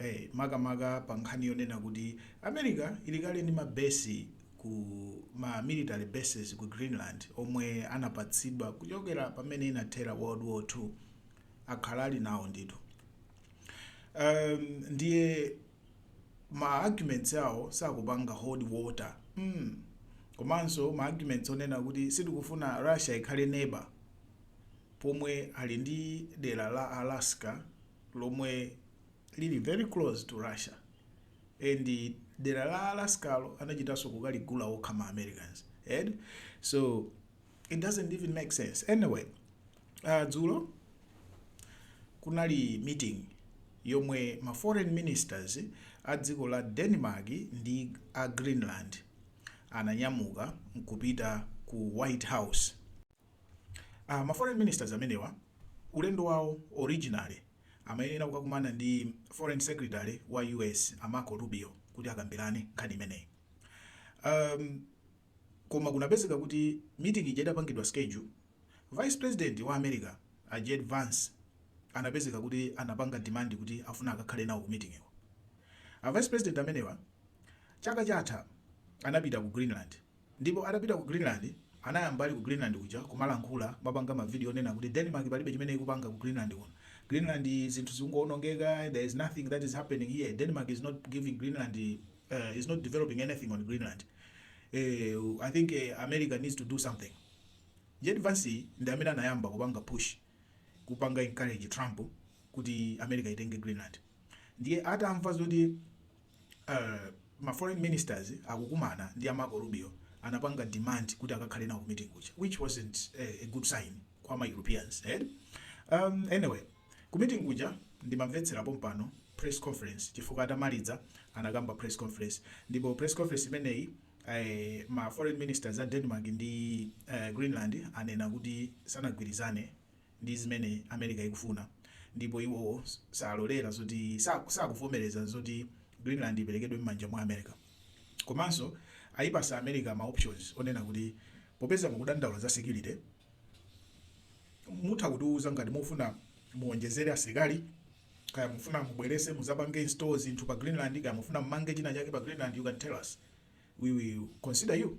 Eh, makamaka pa nkhani yonena kuti America ili kale ndi ma base ku ma military bases ku Greenland omwe anapatsidwa kuchokera pamene inathera World War 2 akhala ali nawo ndithu um, ndiye ma arguments awo sakupanga hold water mm. komanso ma arguments onena kuti sitikufuna Russia ikhale neighbor pomwe ali ndi dera la Alaska lomwe lili very close to Russia and dera la Alaskalo anachitaso kukaligula okha ma Americans eh so it doesn't even make sense anyway uh, dzulo kunali meeting yomwe ma foreign ministers a dziko la Denmark ndi a Greenland ananyamuka nkupita ku White House Ah, ma foreign ministers amenewa ulendo wawo originally amayenera kukakumana ndi foreign secretary wa US a Marco Rubio kuti akambirane nkhani imeneyi. Um, koma kunapezeka kuti meeting ija idapangidwa schedule vice president wa America a JD Vance anapezeka kuti anapanga demand kuti afuna akakhale nawo ku meetingiyo. A vice president amenewa chaka chatha anapita ku Greenland Ndipo atapita ku Greenland anayamba ali ku Greenland kuja kumalankhula kumapanga ma video onena kuti Denmark palibe chimene ikupanga ku Greenland kuno. Greenland zinthu zikungowonongeka there is nothing that is happening here Denmark is not giving Greenland is not developing anything on Greenland eeh I think America needs to do something. JD Vance ndi amene anayamba kupanga push kupanga encourage Trump kuti America itenge Greenland ndiye atamva zoti Eee ma foreign ministers akukumana ndi a Marco Rubio anapanga demand kuti akakhale nawo ku meeting kuja which wasn't a good sign kwa ma Europeans eeh anyway ku meeting kuja ndimamvetsera pompano press conference chifukwa atamaliza anakamba press conference ndipo press conference imeneyi eeh ma foreign ministers a Denmark ndi Greenland anena kuti sanagwirizane Ndi zimene America ikufuna ndipo iwo salolera zoti sakuvomereza zoti Greenland iperekedwe mmanja mwa America. Komanso ayipasa America ma options onena kuti popeza mukudandaula za security mutha kutiuza ngati mufuna muonjezere asilikali kaya mufuna mubwerese muzapange install zinthu pa Greenland kaya mufuna mmange china chake pa Greenland you can tell us we will consider you.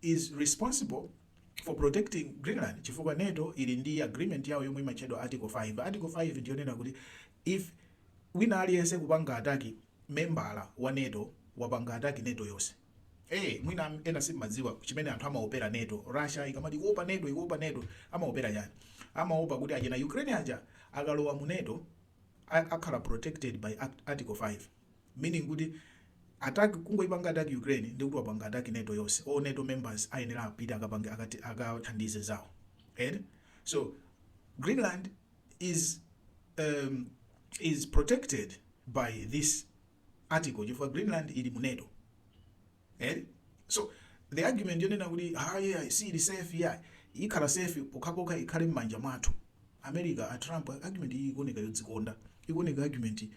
is responsible for protecting Greenland chifukwa nato ili ndi agreement yawo yomwe imatchedwa article 5. Article 5 ndiyonena kuti if wina aliyense kupanga attack membala wa nato wapanga attack nato yonse. Eee mwina ena simumadziwa chimene anthu amaopera nato. Russia ikamati ikuopa nato ikuopa nato amaopera chani? Amaopa kuti achina Ukraine aja akalowa mu nato akhala protected by article 5. meaning kuti attack kungoipanga attack Ukraine ndekuti wapanga attack nato yonse all nato members ayenera apite akapange akati akathandize zawo eti so Greenland is um, is protected by this article chifukwa Greenland ili mu nato eti so the argument yonena kuti ayi ayi siili safe ya ikhala safe pokhapokha ikhale m'manja mwathu america a trump argument iyi ikuoneka yodzikonda ikuoneka argument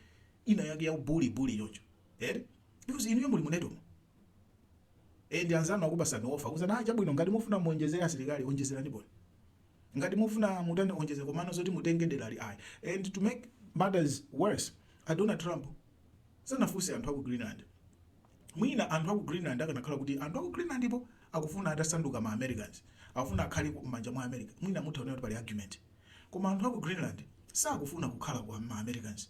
ina yake ya u bully bully choncho eti because inuyo muli mu nato mo and anzanu akupasani offer kunena ah, chabwino ngati mufuna muonjezere asilikali onjezerani ponii ngati mufuna mutani onjeze komano zoti mutenge derali ayi and to make matters worse a Donald Trump sanafunse anthu aku Greenland mwina anthu aku Greenland akanakhala kuti anthu aku Greenland po akufuna atasanduka ma Americans akufuna akhale m'manja mwa America mwina mutha kuona kuti pali argument koma anthu aku Greenland sakufuna kukhala kwa ma Americans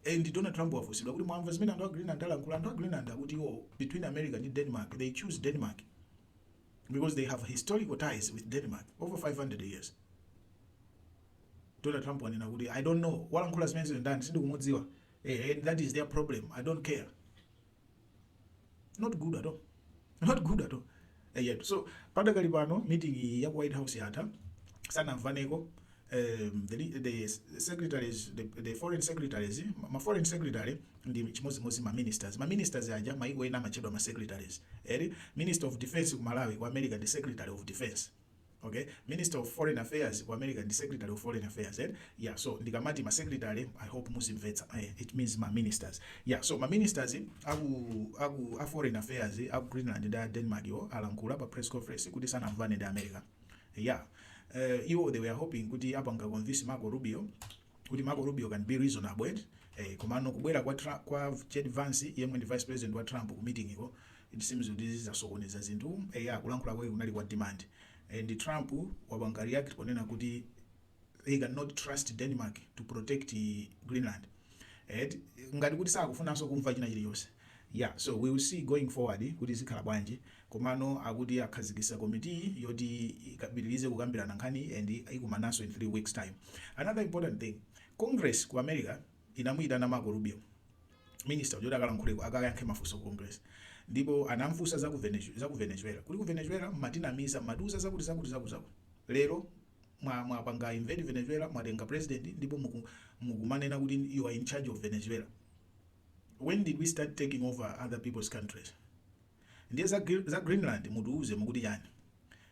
And Donald Trump wafunsidwa kuti mwamva zimene anthu a Greenland alankhula? Anthu a Greenland akuti iwo between America ndi Denmark they choose Denmark because they have historical ties with Denmark over 500 years. Donald Trump wanena kuti I don't know walankhula zimenezo ndani sindikumudziwa. Eh, and that is their problem. I don't care. not good at all not good at all eyetu eh, so padakali pano meeting iyi ya ku white house yatha sanamvaneko um, the, the secretaries the, the foreign secretaries ma foreign secretary ndi chimodzimodzi ma ministers ma ministers aja maiko ena amatchedwa ma secretaries eti eh, minister of defense ku malawi ku america ndi secretary of defense okay minister of foreign affairs ku america ndi secretary of foreign affairs eh? yeah so ndikamati ma secretary i hope muzimvetsa eh, it means ma ministers yeah so ma ministers aku aku a foreign affairs aku greenland ndi a denmark yo alankhula pa press conference kuti sanamvane ndi america yeah uh, iwo they were hoping kuti apanga convince marco rubio kuti Marco Rubio can be reasonable eti eh, komano kubwera kwa, Trump, kwa J.D. Vance yemwe ndi vice president wa Trump ku meeting ko it seems kuti zinasokoneza zinthu eh, ya kulankhula kwake kunali kwa demand eh, ndi Trump wapanga react ponena kuti they cannot trust Denmark to protect eh, Greenland eh, ngati kuti sakufunanso kumva china chilichonse yeah so we will see going forward kuti zikhala bwanji Komano akuti akhazikisa committee yoti ipitilize kukambilana nkhaniyi and ikumananso in 3 weeks time. Another important thing, congress ku America inamuitana Marco Rubio minister uja kuti akalankhuleko akayankhe mafunso ku congress ndipo anamfunsa za ku Venezuela kuti ku Venezuela mumatinamiza mumatiuza zakuti zakuti zakuti zakuti lero mwapanga invade Venezuela mwatenga president ndipo mukumanena kuti you are in charge of Venezuela when did we start taking over other peoples countries? Ndiye za Greenland mutiuze mukuti chani?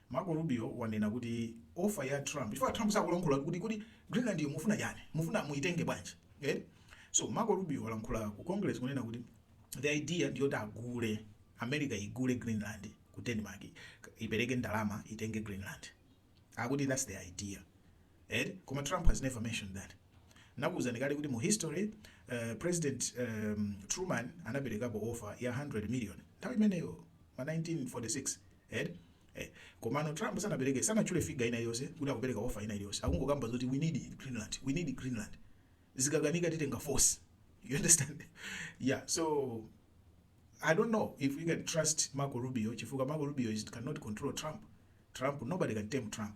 Marco Rubio wanena kuti offer ya Trump chifukwa Trump sakulankhula kuti Greenland yo mufuna chani? Mufuna muitenge bwanji? Eti? So Marco Rubio walankhula ku Congress kunena kuti the idea ndiyoti agule America igule Greenland ku Denmark ipereke ndalama itenge Greenland. Akuti that's the idea. Eti koma Trump has never mentioned that nakuuzani kale kuti mu history president Truman anapelekapo offer ya 100 million nthawi imeneyo ma 1946 eti komano Trump sanapeleke sanatchule figure ina iliyose kuti akupeleka offer ina iliyose akungokamba zoti we need Greenland we need Greenland zikakanika titenga force you understand yeah so I don't know if we can trust Marco Rubio chifukwa Marco Rubio is cannot control Trump Trump nobody can tame Trump